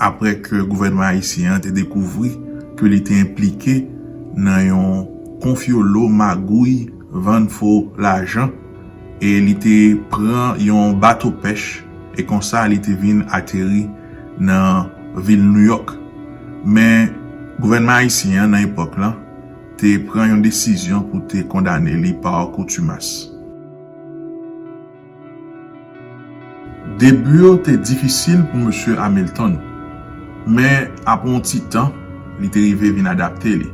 aprè ke gouvènman ayisyen an te dekouvri ke li te enplike nan yon konfyolo magouy vann fo lajan e li te pran yon bato pèch e konsa li te vin ateri nan vil Nouyòk men gouvènman ayisyen an nan epòk lan te pran yon desizyon pou te kondane li pa kontumas. Debu yo te difisil pou Mesye Hamilton, men apre yon ti tan, li te rive vin adapte li,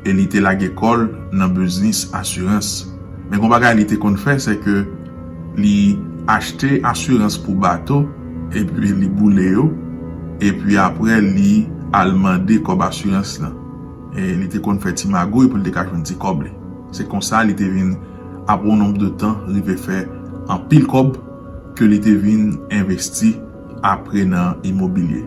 e li te lage kò l nan biznis asirans. Men gon bagay li te konn fè, se ke li achte asirans pou bato, epi li boule yo, epi apre li al mande kòb asirans lan. Li te konn fè ti magouy pou li te ka jwenn ti kòb li. Se konsa li te vin. apre yon nonb de tan rive fè anpil kòb ke li te vin envesti apre nan imobilye.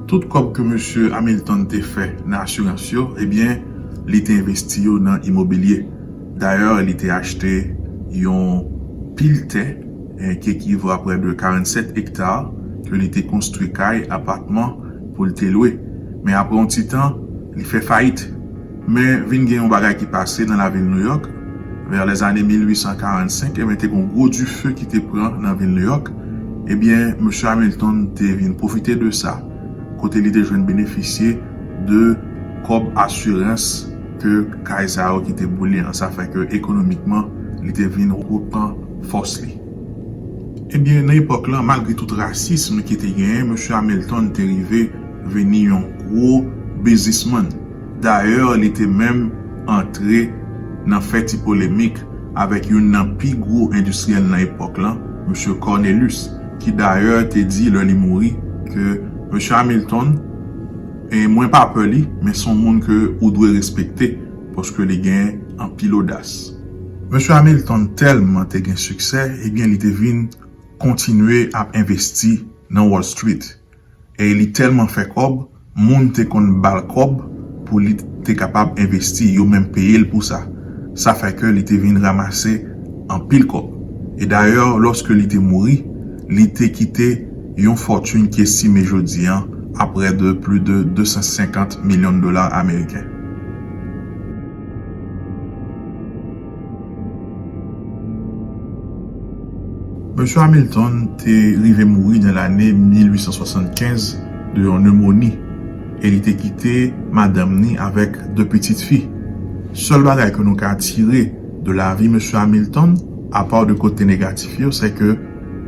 Tout kòb ke Mesye Hamilton te fè nan asirans yo, ebyen li te envesti yo nan imobilye. Dayè li te achte yon pil tè ki ekivo a prè de 47 ekta ke li te konstwi kay, apatman pou li te lwe. Men apre yon ti tan, li fè fayit. Men, vin gen yon bagay ki pase nan lavil Nouyòk. Vè lèzane 1845, enben, te gen yon gwo dife ki te pran nan vil Nouyòk. Ebyen, Mesye Hamilton te vin pwofite de sa, kote li te jwenn benefisye de kòb asirans ke kay sa yo ki te boule an. Sa fè ke ekonomikman, li te vin repran fòs li. Ebyen, nan epòk lan, malgre tout rasism ki te genyen, Mesye Hamilton te rive vini yon gwo biznismann. Dayè li te menm antre nan fè ti polemik avèk youn nan pi gwo endistriyèl nan epòk lan, Msye Cornelus, ki dayè te di lè li mouri ke, Msye Hamilton, mwen pa pè li, men son moun ke ou dwe respekte paske li gen anpil odas. Msye Hamilton tèlman te gen siksè, ebyen li te vin kontinye ap envesti nan Wall Street. e li tèlman fè kòb moun te konn bal kòb pou li te kapab envesti yo menm peyel pou sa sa fè ke li te vin ramase anpil kòb e dayè lòske li te mouri li te kite yon fòtun ki estime jodi an a prè de plu de 250 milyon dola ameriken. Mesye Hamilton te rive mouri nan lane 1875 de yon nemoni e li te kite madanm ni avèk de pitit fi. Sèl bagay ke nou ka tire de lavi Mesye Hamilton, apaw de kote negatif yo, sè ke,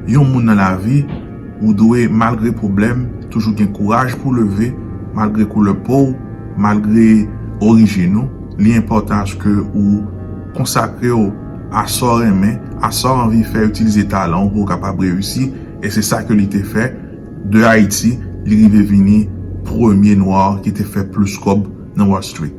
Yon moun nan lavi ou dwe malgre pwoblèm toujou gen kouraj pou leve malgre koulè po w malgre orijin ou li enpòtan aske ou konsakre w a sa w renmen a sa w anvi fè itilize talan w pou w kapab reyisi e se sa ke li te fè de Ayiti li rive vini premye nwa ki te fè plis kòb nan Wall Street.